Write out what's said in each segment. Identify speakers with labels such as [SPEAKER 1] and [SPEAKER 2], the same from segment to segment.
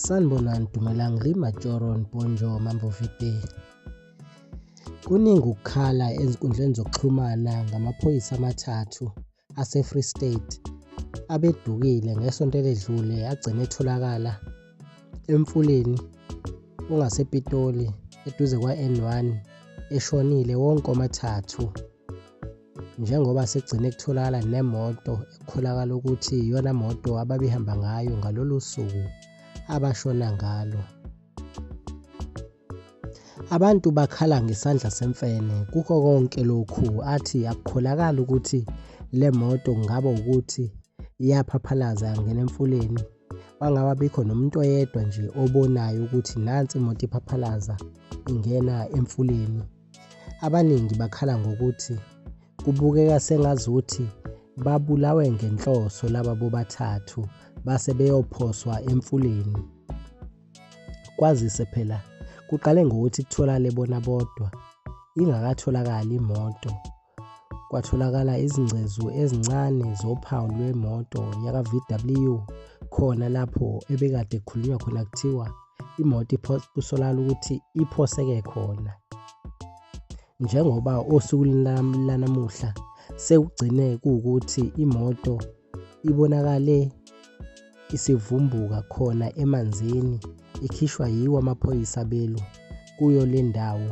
[SPEAKER 1] Sanibonani Dumelang le Majoron Bonjo Mambo Vite. Kuningi ukukhala ezinkundleni zokuxhumana ngamaphoyisa amathathu ase-Free State abedukile ngesonto eledlule agcine etholakala emfuleni ongasePitoli eduze kwa-N1 eshonile wonke omathathu. njengoba sekugcine kutholakala nemoto ekukholakala ukuthi iyona moto ababehamba ngayo ngalolu suku abashona ngalo. Abantu bakhala ngesandla semfene kukho konke lokhu athi akukholakali ukuthi le moto kungaba ukuthi iyaphaphalaza yangena emfuleni kwangaba bikho nomuntu oyedwa nje obonayo ukuthi nansi imoto iphaphalaza ingena emfuleni. Abaningi bakhala ngokuthi kubukeka sengazuthi babulawe ngenhloso laba bobathathu base beyophoswa emfuleni. Kwazise phela kuqale ngokuthi kutholakale bona bodwa ingakatholakali imoto Kwatholakala izingcezu ezincane zophawu lwemoto yaka-VW khona lapho ebekade kukhulunywa khona kuthiwa imoto kusolakala ukuthi iphoseke khona. Njengoba osukwini lanamuhla sekugcine kuwukuthi imoto ibonakale isivumbuka khona emanzini ikhishwa yiwo amaphoyisa abelwa kuyo le ndawo.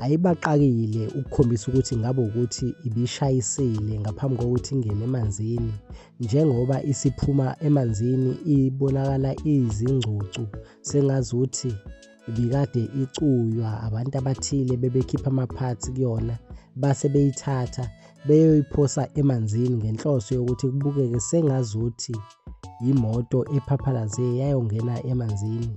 [SPEAKER 1] ayibaqakile ukukhombisa ukuthi ngabe ukuthi ibishayisile ngaphambi kokuthi ingene emanzini njengoba isiphuma emanzini ibonakala izingcucu sengazuthi ibikade icuywa abantu abathile bebekhipha amaphathi kuyona base beyithatha beyoyiphosa emanzini ngenhloso yokuthi kubukeke sengazuthi yimoto ephaphalaze yayongena emanzini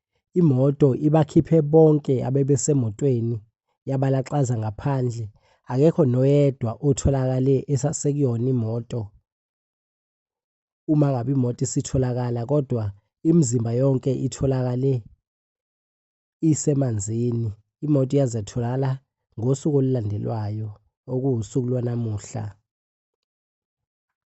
[SPEAKER 1] Imoto ibakhiphe bonke abebesemotweni yabalaxaza ngaphandle, akekho noyedwa otholakale esasekuyona imoto. Uma ngabe imoto isitholakala kodwa imizimba yonke itholakale isemanzini. Imoto yaze yatholakala ngosuku olulandelwayo okuwusuku lwanamuhla.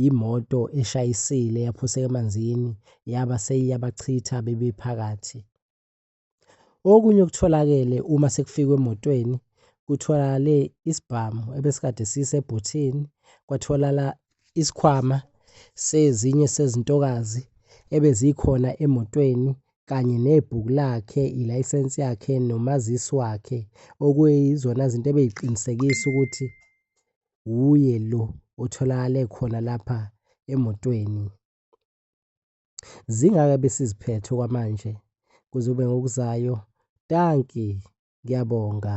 [SPEAKER 1] yimoto eshayisile yaphuseka emanzini yaba seyiyabachitha bebephakathi. Okunye okutholakele uma sekufikwe emotweni kutholakale isibhamu ebesikade sisebhuthini, kwatholala isikhwama sezinye sezintokazi ebezikhona emotweni kanye nebhuku lakhe, ilayisensi yakhe nomazisi wakhe okuyizona zinto ebeyiqinisekisa ukuthi wuye lo otholakale khona lapha emotweni. Zingaka besiziphethe okwamanje kuzobe ngokuzayo. Danki, ngiyabonga.